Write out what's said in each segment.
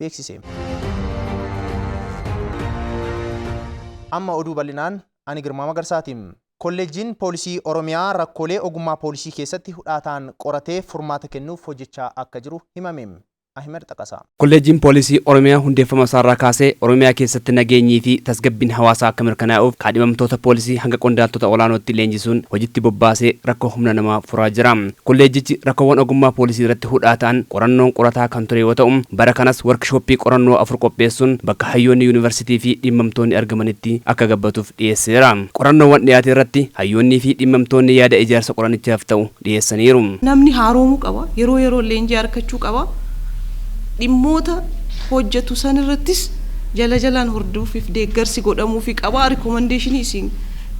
beeksise. Amma oduu bal'inaan ani Girmaa Magarsaati. Kolleejjiin Poolisii Oromiyaa rakkoolee ogummaa poolisii keessatti hudhaataan qoratee furmaata kennuuf hojjechaa akka jiru himame. Ahimad Xaqasaa. Kolleejjiin Poolisii Oromiyaa hundeeffama isaarraa kaasee Oromiyaa keessatti nageenyii fi tasgabbiin hawaasaa akka mirkanaa'uuf kaadhimamtoota poolisii hanga qondaaltota olaanootti leenjisuun hojitti bobbaasee rakkoo humna namaa furaa jira. Kolleejjichi rakkoowwan ogummaa poolisii irratti hudhaa ta'an qorannoon qorataa kan ture yoo ta'u, bara kanas workishooppii qorannoo afur qopheessuun bakka hayyoonni yunivarsiitii fi dhimmamtoonni argamanitti akka gabbatuuf dhiyeesseera. Qorannoowwan dhiyaate irratti hayyoonnii fi dhimmamtoonni yaada ijaarsa qoranichaaf ta'u dhiyeessaniiru. Namni haaroomuu qaba, yeroo yeroon leenjii arkachuu qaba, dhimmoota hojjatu san irrattis jala jalaan hordooffii fi deeggarsi godhamuufi qaba, rikomandeeshinii isin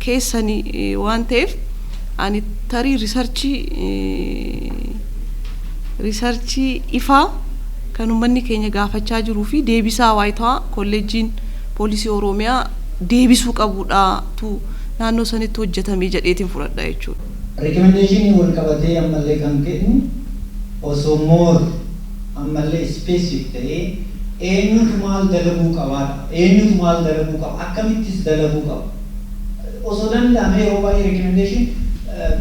keessani waan ta'eef. ani tarii risarchii risarchii ifaa kan ummanni keenya gaafachaa jiruu fi deebisaa waayitawaa kolleejjiin poolisii Oromiyaa deebisuu qabuudha tu naannoo sanitti hojjetame jedheetiin fudhadha jechuudha. Recommendation'n wal qabatee ammallee kan kennu osoo more ammallee specific ta'ee eenyutu maal dalaguu qabaadha. Eenyutu maal dalaguu qaba akkamittis dalaguu qaba. Osoo danda'amee yeroo baay'ee recommendation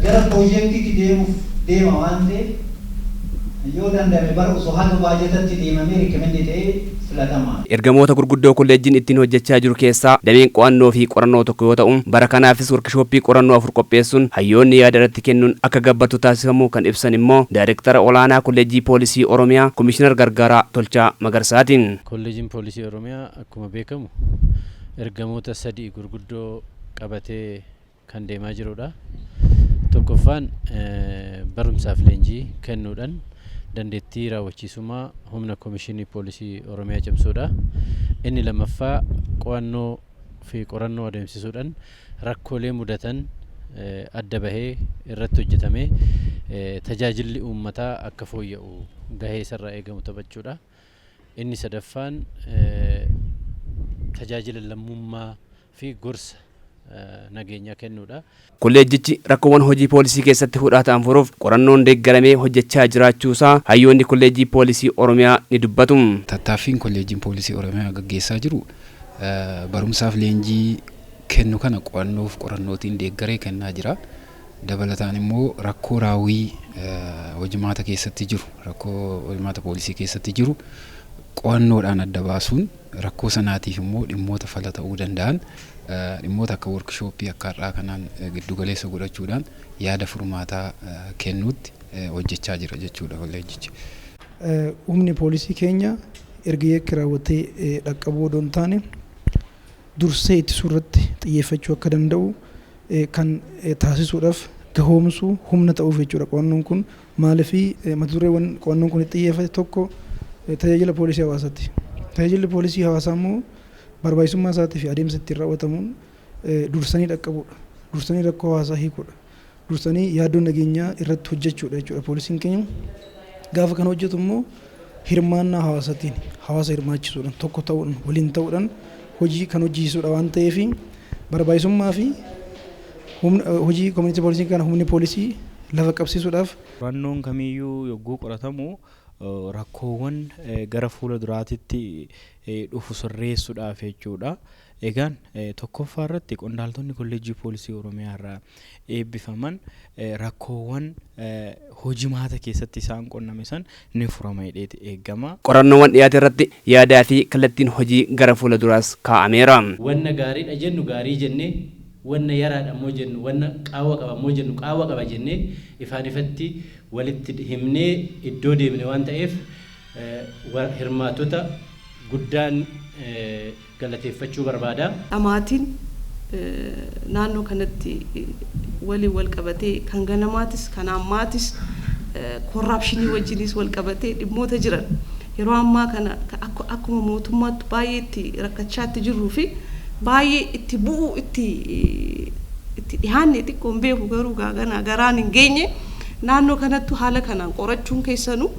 gara project tti deemuuf deema waan ta'eef yoo danda'ame bara osoo haga baajatatti deemamee recommend ta'e filatamaa dha. Ergamoota gurguddoo kolleejjiin ittiin hojjechaa jiru keessaa dameen qo'annoo fi qorannoo tokko yoo ta'u, bara kanaafis workishooppii qorannoo afur qopheessuun hayyoonni yaada irratti kennuun akka gabbatu taasifamuu kan ibsan immoo Daayrektara Olaanaa Kolleejjii Poolisii Oromiyaa Komishinar Gargaaraa Tolchaa Magarsaati. Kolleejiin Poolisii Oromiyaa Akkuma beekamu ergamoota sadii gurguddoo qabatee kan deemaa jirudha. Tokkoffaan barumsaaf leenjii kennuudhaan dandeettii raawwachiisummaa humna Komishinii Poolisii Oromiyaa cimsuudha. Inni lammaffaa qo'annoo fi qorannoo adeemsisuudhaan rakkoolee mudatan adda bahee irratti hojjetamee tajaajilli uummataa akka fooyya'u gahee isarraa eegamu taphachuudha. Inni sadaffaan tajaajila lammummaa fi gorsa nageenyaa kennuudha. Kolleejjichi rakkoowwan hojii poolisii keessatti hudhaa ta'an furuuf qorannoon deeggaramee hojjechaa jiraachuusaa hayyoonni Kolleejjii Poolisii Oromiyaa ni dubbatu. Tattaaffiin Kolleejjiin Poolisii Oromiyaa gaggeessaa jiru barumsaaf leenjii kennu kana qo'annoof qorannootiin deeggaree kennaa jira. Dabalataan immoo rakkoo raawwii hojimaata keessatti jiru, rakkoo hojimaata poolisii keessatti jiru qo'annoodhaan adda baasuun rakkoo sanaatiif immoo dhimmoota fala ta'uu danda'an dhimmoota akka workishooppii akka har'aa kanaan giddu galeessa godhachuudhaan yaada furmaataa kennuutti hojjechaa jira jechuudha kolleejjichi. Humni poolisii keenya erga yakki raawwatee dhaqqabuu odoo hin taane dursee ittisuu irratti xiyyeeffachuu akka danda'u kan taasisuudhaf gahoomsuu, humna ta'uuf jechuudha qo'annoon kun. Maaliif mata dureewwan qo'annoon kun itti xiyyeeffate tokko tajaajila poolisii hawaasaati. Tajaajilli poolisii hawaasaa immoo barbaachisummaa isaatii fi adeemsa ittiin raawwatamuun dursanii dhaqqabuudha. Dursanii rakkoo hawaasaa hiikuudha. Dursanii yaaddoo nageenyaa irratti hojjechuudha jechuudha poolisiin keenya. Gaafa kana hojjetu immoo hirmaannaa hawaasatiin hawaasa hirmaachisuudhan tokko ta'uun waliin ta'uudhan hojii kan hojjiisudha waan ta'eef barbaachisummaa fi hojii community policing kana humni poolisii lafa qabsiisuudhaaf Qorannoon kamiyyuu yogguu qoratamu rakkoowwan gara fuula duraatitti dhufu sirreessudhaaf jechuudha. Egaan tokkoffaa irratti qondaaltonni Kolleejjii Poolisii Oromiyaa irraa eebbifaman rakkoowwan hojimaata keessatti isaan qunname san ni furama jedheeti eeggama. Qorannoowwan dhiyaate irratti yaadaa fi kallattiin hojii gara fuula duraas kaa'ameera. Wanna gaariidha jennu gaarii jennee, wanna yaraadha immoo jennu, wanna qaawwa qaba immoo jennu qaawwa qaba jennee ifaan ifatti walitti himnee iddoo deemne waan ta'eef hirmaattota guddaan galateeffachuu barbaada. dhamaatiin naannoo kanatti waliin wal qabatee kan ganamaatis kan ammaatis korraapshinii wajjiniis wal qabatee dhimmoota jiran yeroo ammaa kana akka akkuma mootummaattu baay'ee itti rakkachaa itti jirruu fi baay'ee itti bu'uu itti itti dhihaanne xiqqoo hin beeku garuu gaa ganaa garaan hin geenye naannoo kanattu haala kanaan qorachuun keessanuu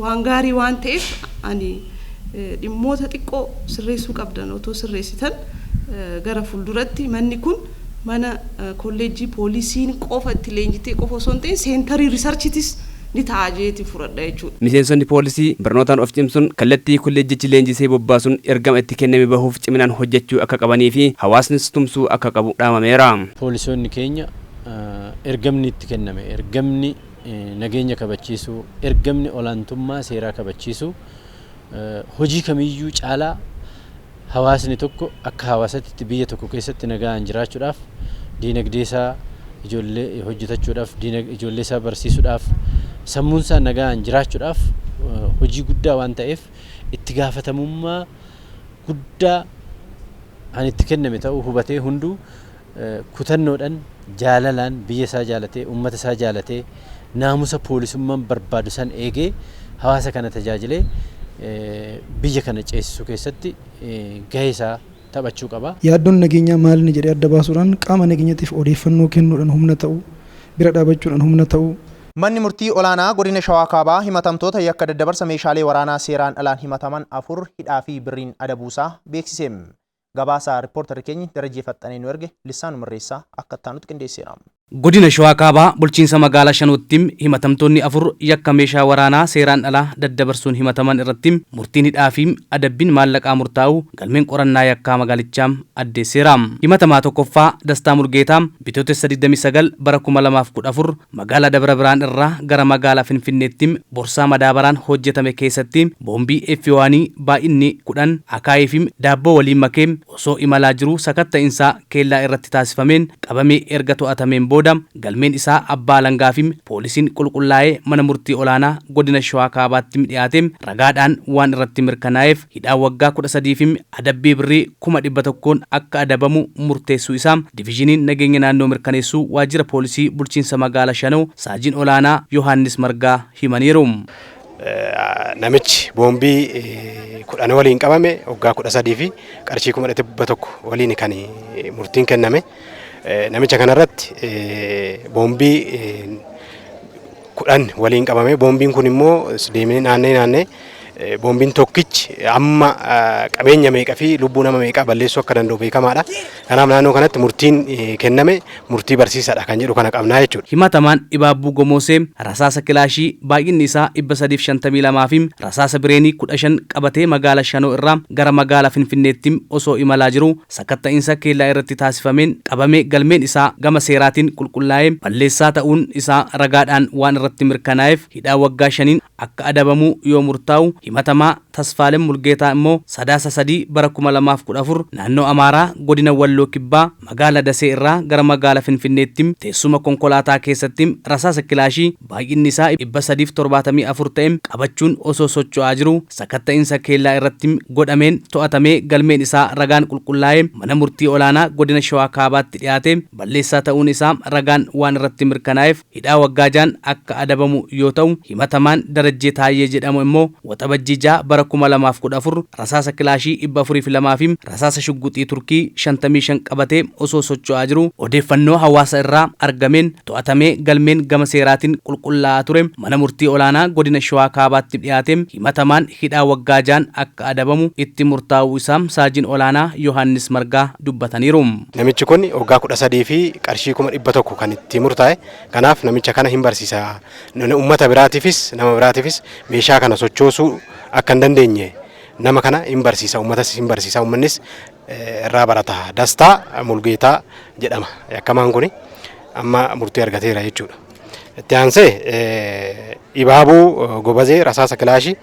waan gaarii waan ta'eef ani dhimmoota xiqqoo sirreessuu qabdan otoo sirreessitan gara fulduratti manni kun mana kolleejjii poolisiin qofa itti leenjitee qofa osoo hin ta'in seentarii risarchitis ni ta'a jeeti furadha jechuudha. Miseensonni poolisii barnootaan of cimsun kallattii kolleejjichi leenjisee bobbaasun ergama itti kenname bahuuf ciminaan hojjechuu akka qabanii fi hawaasnis tumsuu akka qabu dhaamameera. Poolisoonni keenya ergamni itti kenname ergamni nageenya kabachiisuu, ergamni olaantummaa seeraa kabachiisuu, hojii kamiyyuu caalaa hawaasni tokko akka hawaasatti biyya tokko keessatti nagaan jiraachuudhaaf diinagdee isaa ijoollee hojjetachuudhaaf ijoollee isaa barsiisuudhaaf sammuun isaa nagaan jiraachuudhaaf hojii guddaa waan ta'eef itti gaafatamummaa guddaa kan itti kenname ta'uu hubatee hunduu kutannoodhan jaalalaan biyya isaa jaalatee ummata isaa jaalatee naamusa poolisummaan barbaadu san eegee hawaasa kana tajaajilee biyya kana ceesisuu keessatti gahee isaa taphachuu qaba. Yaaddoon nageenyaa maalinni jedhee adda baasuudhaan qaama nageenyatiif odeeffannoo kennuudhan humna ta'u, bira dhaabachuudhan humna ta'u, Manni Murtii Olaanaa Godina Shawaa Kaabaa himatamtoota yakka daddabarsa meeshaalee waraanaa seeraan alaan himataman afur hidhaa fi birriin adabuusaa beeksise. Gabaasa rippoortarri keenyi Darajjee Faxxanee nu erge Lissaanu Mirreessa akka itti aanutti qindeesseera. Godina Shawaa Kaabaa bulchiinsa magaalaa Shanootti himatamtoonni afur yakka meeshaa waraanaa seeraan alaa daddabarsuun himataman irratti murtiin hidhaa fi adabbiin maallaqaa murtaa'uu galmeen qorannaa yakkaa magaalichaa addeesseera. Himatamaa 1ffaa Dastaa Mulgeetaa Bitootessa 29 bara 2014 Magaala Dabra Birhaan irraa gara magaala Finfinneetti borsaa madaabaraan hojjetame keessatti boombii F1 baay'inni 10 akaayii fi daabboo waliin makee osoo imalaa jiruu sakatta'insaa keellaa irratti taasifameen qabamee erga to'atameen booda galmeen isaa abbaa alangaa fi poolisiin qulqullaa'ee mana murtii olaanaa godina Shawaa Kaabaatti dhiyaatee ragaadhaan waan irratti mirkanaa'eef hidhaa waggaa 13 fi adabbii birrii kuma 100n akka adabamu murteessuu isaa Divizhiniin Nageenya Naannoo mirkaneessuu Waajjira Poolisii Bulchiinsa Magaala Shanoo Saajin Olaanaa Yohaannis Margaa himaniiru. Namichi boombii 10 waliin qabame waggaa 13 fi qarshii kuma 100 waliin kan murtiin kenname. Namicha kanarratti boombii kudhan waliin qabame. Boombiin kun immoo deemee naannee naannee boombiin tokkichi amma qabeenya meeqa fi lubbuu nama meeqaa balleessuu akka danda'u beekamaadha. Kanaaf naannoo kanatti murtiin kenname murtii barsiisaadha kan jedhu kana qabnaa jechuudha. Himatamaan Ibaabbuu Gomoosee rasaasa kilaashii baay'inni isaa 352 fi rasaasa bireenii 15 qabatee magaala Shanoo irraa gara magaala Finfinneetti osoo imalaa jiruu sakatta'insa keellaa irratti taasifameen qabame galmeen isaa gama seeraatiin qulqullaa'ee balleessaa ta'uun isaa ragaadhaan waan irratti mirkanaa'eef hidhaa waggaa shaniin akka adabamu yoo murtaa'u, himatamaa Tasfaalem Mulgeetaa immoo Sadaasa 3 bara 2014 naannoo Amaaraa godina Walloo Kibbaa magaala Dasee irraa gara magaala Finfinneetti teessuma konkolaataa keessatti rasaasa kilaashii baay'inni isaa 374 ta'e qabachuun osoo socho'aa jiruu sakatta'insa keellaa irratti godhameen to'atamee galmeen isaa ragaan qulqullaa'ee Mana Murtii Olaanaa Godina Shawaa Kaabaatti dhiyaate balleessaa ta'uun isaa ragaan waan irratti mirkanaa'eef hidhaa waggaa 6n akka adabamu yoo ta'u, himatamaan Darajjee Taayyee jedhamu immoo. Waxabajjii 6 bara 2014 rasaasa kilaashii 402 fi rasaasa shugguxii Turkii 55 qabatee osoo socho'aa jiruu odeeffannoo hawaasa irraa argameen to'atamee galmeen gama seeraatiin qulqullaa'aa ture Mana Murtii Olaanaa Godina Shawaa Kaabaatti dhiyaate himatamaan hidhaa waggaa 6'n akka adabamu itti murtaa'uu isaa Saajiin Olaanaa Yohaannis Margaa dubbataniiru. Namichi kun waggaa 13 fi qarshii 100,000 kan itti murtaa'e. Kanaaf namicha kana hin barsiisa. Nuni ummata biraatiifis nama biraatiifis meeshaa kana sochoosuu akka hin dandeenye nama kana hin barsiisa ummatas hin barsiisa ummannis eh, irraa barata. Dastaa Mulgeetaa jedhama yakkamaan kuni amma murtii argateera jechuudha. Itti aansee eh, Ibaabuu eh, Gobazee rasaasa kilaashii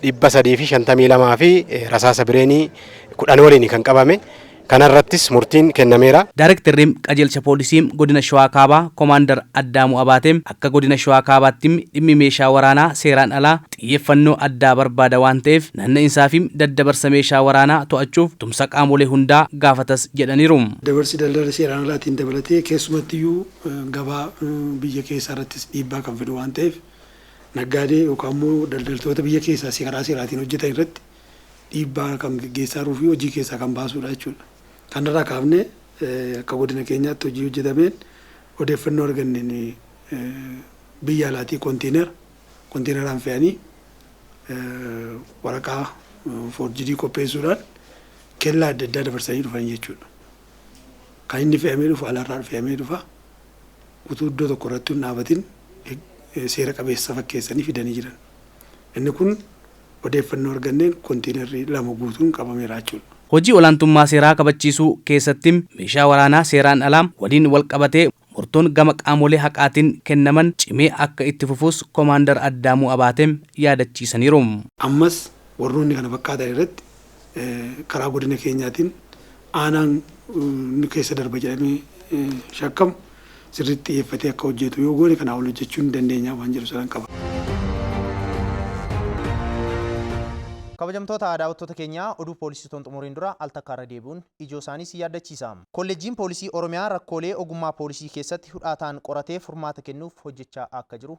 dhibba sadii fi shantamii lamaa fi eh, rasaasa bireenii kudhan waliin kan qabame Kana irrattis murtiin kennameera. Daarektarri Qajeelcha Poolisii Godina Shawaa Kaabaa Komaandar Addaamuu Abaatee akka Godina Shawaa Kaabaatti dhimmi meeshaa waraanaa seeraan alaa xiyyeeffannoo addaa barbaada waan ta'eef naanna'insaafi daddabarsa meeshaa waraanaa to'achuuf tumsa qaamolee hundaa gaafatas jedhaniiru. Daddabarsi daldala seeraan alaatiin dabalatee keessumattiyyuu gabaa biyya keessaa irrattis dhiibbaa kan fidu waan ta'eef naggaadee yookaan immoo daldaltoota biyya keessaas karaa seeraatiin hojjetan irratti dhiibbaa kan geggeessaa jiruu fi hojii keessaa kan baasuu dha jechuu dha. Kanarraa kaafnee akka godina keenyaatti hojii hojjetameen odeeffannoo arganneen biyya alaatii kontiinera kontiineraan fe'anii waraqaa foorjidii qopheessuudhaan kellaa adda addaa dabarsanii dhufan jechuu dha. Kan inni fe'amee dhufu alaarraa fe'amee dhufa. Utuu iddoo tokko irratti hin dhaabatin seera qabeessa fakkeessanii fidanii jiran. Inni kun odeeffannoo arganneen kontiinarri lama guutuun qabameera jechuudha. Hojii olaantummaa seeraa kabachiisuu keessatti meeshaa waraanaa seeraan alaa waliin walqabatee murtoon gama qaamolee haqaatiin kennaman cimee akka itti fufuus Komaandar Addaamuu Abaatee yaadachiisaniiru. Ammas warroonni kana fakkaatan irratti karaa godina keenyaatiin aanaan nu keessa darba jedhamee shakkamu sirriitti xiyyeeffatee akka hojjeetu yoo goone kanaa ol hojjechuu ni dandeenya waan jedhu sanan qaba. Kabajamtoota daawwattoota keenya, oduu poolisii utoon xumuriin dura al takka irra deebi'uun ijoo isaanii isin yaaddachiisa. Kolleejjiin Poolisii Oromiyaa rakkoolee ogummaa poolisii keessatti hudhaa ta'an qoratee furmaata kennuuf hojjechaa akka jiru